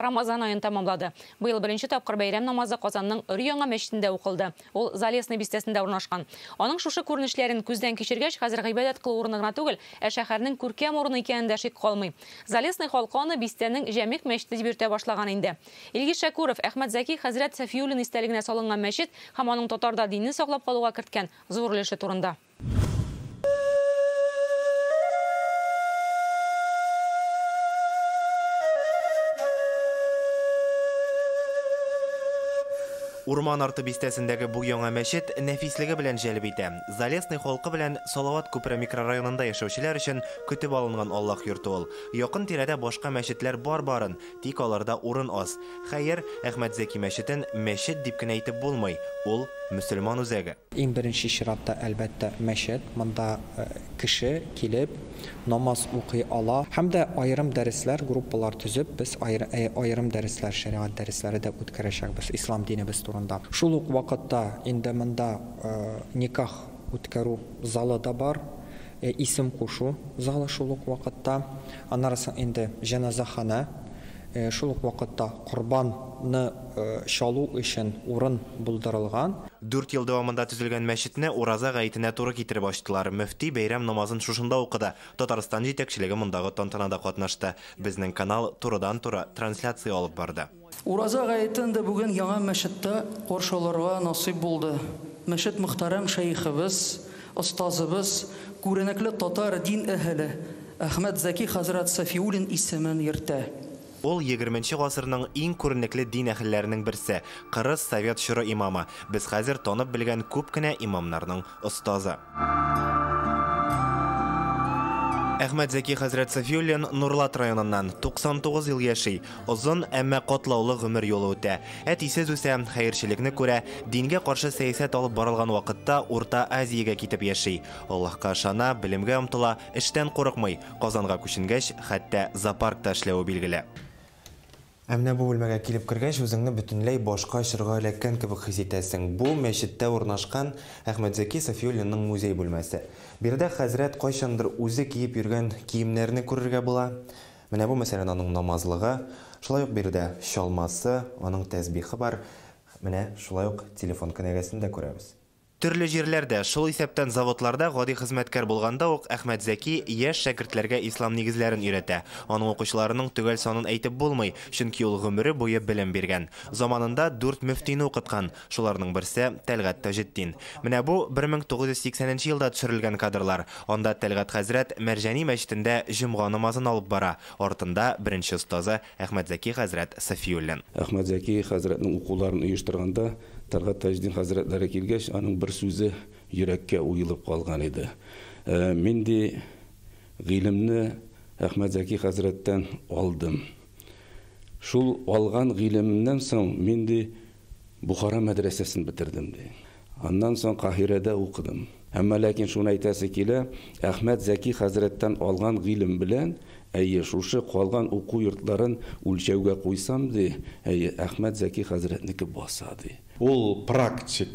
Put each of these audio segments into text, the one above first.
Рамазан аен тәмамлады. Быел беренче тапкыр бәйрәм намазы Казанның өр-яңа мәчетендә укылды. Ул Залесный бистәсендә урнашкан. Аның шушы күренешләрен күздән кичергәч, хәзер гыйбадәт кылу урыны гына түгел, ә шәһәрнең күркәм урыны икәнен дә шик калмый. Залесный халкы аны бистәнең Җәмигъ мәчете дип йөртә башлаган инде. Илгиз Шәкүров, Әхмәт Зәки хәзрәт Сафиуллин истәлегенә салынган мәчет һәм аның татарда динне саклап калуга керткән зур өлеше турында. Урман арты бистәсендәге бу яңа мәчет нәфислеге белән җәлеп итә. Залесный халкы белән Салават күпере микрорайонында яшәүчеләр өчен көтеп алынган Аллаһ йорты ул. Якын тирәдә башка мәчетләр бар барын, тик аларда урын аз. Хәер, Әхмәтзәки мәчетен мәчет дип кенә әйтеп булмый, ул, мөселман үзәге. Иң беренче чиратта, әлбәттә, мәчет. Монда кеше килеп намаз укый ала. Һәм дә аерым дәресләр, группалар төзеп, без аерым дәресләр, шәригать дәресләре дә үткәрәчәкбез ислам динебез турында. Шул ук вакытта инде монда никах үткәрү залы да бар, исем кушу залы шул ук вакытта. Аннары соң инде җеназаханә. Шул ук вакытта корбан ны чалу өчен урын булдырылган. Дүрт ел дәвамында төзелгән мәчетне Ураза гаетенә туры китереп ачтылар. Мөфти бәйрәм намазын шушында укыды. Татарстан җитәкчелеге мондагы тантанада катнашты. Безнең канал турыдан-туры трансляция алып барды. Ураза гаетен дә бүген яңа мәчеттә каршы алырга насыйп булды. Мәчет мөхтәрәм шәехебез Остазыбыз, күренекле татар дин әһеле Әхмәт Зәки хәзрәт Сафиуллин исемен йөртә. Ул, егерменче гасырның иң күренекле дин әһелләренең берсе, кырыс совет чоры имамы, без хәзер танып белгән күп кенә имамнарның остазы. Әхмәт Зәки хәзрәт Сафиуллин Нурлат районыннан, 99 ел яши. Озын, әмма катлаулы гомер юлы үтә. Әтисез үсә, хәерчелекне күрә, дингә каршы сәясәт алып барылган вакытта Урта Азиягә китеп яши. Аллаһка ышана, белемгә омтыла, эштән курыкмый. Казанга күченгәч, хәтта зоопаркта эшләве билгеле. Ә менә бу бүлмәгә килеп кергәч, үзеңне бөтенләй башка чорга эләккән кебек хис итәсең. Бу, мәчеттә урнашкан Әхмәтзәки Сафиуллинның музей бүлмәсе. Биредә хәзрәт кайчандыр үзе киеп йөргән киемнәрне күрергә була. Менә бу, мәсәлән, аның намазлыгы, шулай ук биредә чалмасы, аның тәсбихы бар, менә шулай ук телефон кенәгәсен дә күрәбез. Төрле җирләрдә, шул исәптән заводларда гади хезмәткәр булганда ук Әхмәтзәки яшь шәкертләргә ислам нигезләрен өйрәтә. Аның укучыларының төгәл санын әйтеп булмый, чөнки ул гомере буе белем биргән. Заманында дүрт мөфтине укыткан. Шуларның берсе, Тәлгать Таҗетдин. Менә бу, 1980 нче елда төшерелгән кадрлар. Анда Тәлгать хәзрәт Мәрҗани мәчетендә җомга намазын алып бара. Артында, беренче остазы, Әхмәтзәки хәзрәт Сафиуллин. Әхмәтзәки хәзрәтнең укуларын оештырганда, Тәлгать Таҗетдин хәзрәтләре килгәч, аның бер сүзе йөрәккә уелып калган иде, Ә минди гыйлемне Әхмәтзәки хәзрәттән алдым. Шул алган гыйлемемнән соң минди Бохара мәдрәсәсен бетердем, ди. Аннан соң Каһирәдә укыдым. Әмма ләкин шуны әйтәсе килә, Әхмәт Зәки хәзрәттән алган гыйлем белән, әйе, шушы калган уку йортларын үлчәүгә куйсам, ди, әйе, Әхмәт Зәки хәзрәтнеке баса, ди. Ул практик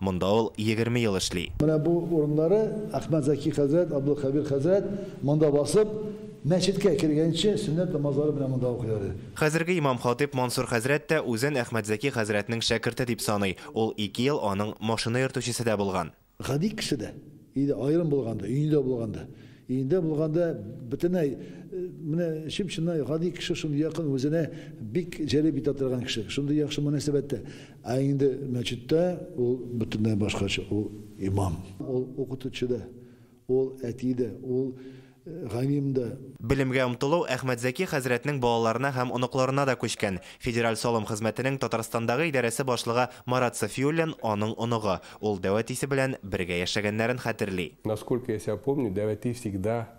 Монда ул егерме ел эшли. Менә бу урыннары Әхмәт Зәки хәзрәт, Абдулхәбир хәзрәт монда басып, мәчеткә кергәнче сөннәт намазлары менә монда укыйлар иде. Хәзерге имам-хатыйб Мансур хәзрәт тә үзен Әхмәт Зәки хәзрәтнең шәкерте дип саный, ул ике ел аның машина йөртүчесе дә булган. Гади кеше дә иде, аерым булганда, өендә булганда. Өендә булганда бөтенләй менә чып-чыннан гади кеше, шундый якын, үзенә бик җәлеп итә торган кеше, шундый яхшы мөнәсәбәттә. Ә инде мәчеттә ул бөтенләй башкача, ул имам. Ул укытучы да, ул әти дә, ул галим дә. Белемгә омтылу Әхмәтзәки хәзрәтнең балаларына һәм оныкларына да күчкән. Федераль салым хезмәтенең Татарстандагы идарәсе башлыгы Марат Сафиуллин аның оныгы, ул Дәвәтисе белән бергә яшәгәннәрен хәтерли. Насколько я себя помню, Дәвәти всегда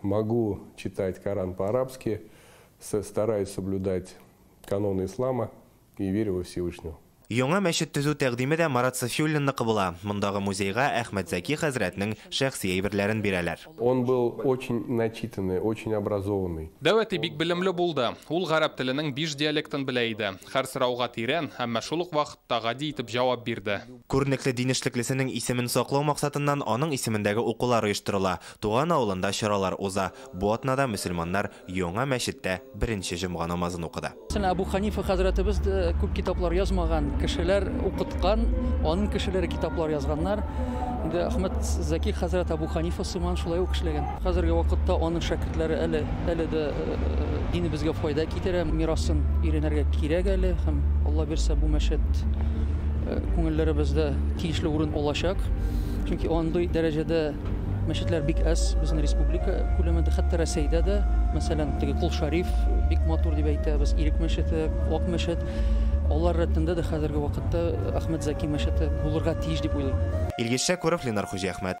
Могу читать Коран по-арабски, с стараюсь соблюдать каноны ислама и верю во Всевышнего. Яңа мәчет төзү тәкъдиме дә Марат Сафиуллинныкы була. Мондагы музейга Әхмәт Зәки хәзрәтнең шәхси әйберләрен бирәләр. Он был очень начитанный, очень образованный. Дәү әти бик белемле булды. Ул гарәп теленең биш диалектын белә иде. Хәр сорауга тирән, әмма шул ук вакытта гади итеп җавап бирде. Күренекле дин эшлеклесенең исемен саклау максатыннан аның исемендәге укулар оештырыла. Туган авылында чаралар уза. Бу атнада мөселманнар яңа мәчеттә беренче җомга намазын укыды. Әбу Ханифа хәзрәтебез дә күп китаплар язмаган, кешеләр укыткан, аның кешеләре китаплар язганнар. Инде Әхмәд Зәки хәзрәт Әбу Ханифа сыман шулай ук эшләгән. Хәзерге вакытта аның шәкертләре әле, әле дә динебезгә файда китерә, мирасын өйрәнергә кирәк әле һәм Алла бирсә бу мәчет күңелләребездә тиешле урын алачак, чөнки андый дәрәҗәдә, Мәчетләр бик әз безнең республика күләмендә, хәтта Рәсәйдә дә, мәсәлән, теге Кул Шариф бик матур дип әйтәбез, Ирек мәчете, Вак мәчет. Алар рәтендә дә хәзерге вакытта Әхмәт Зәки мәчете булырга тиеш дип уйлыйм. Илгиз Шәкүров, Ленар Хуҗиәхмәт.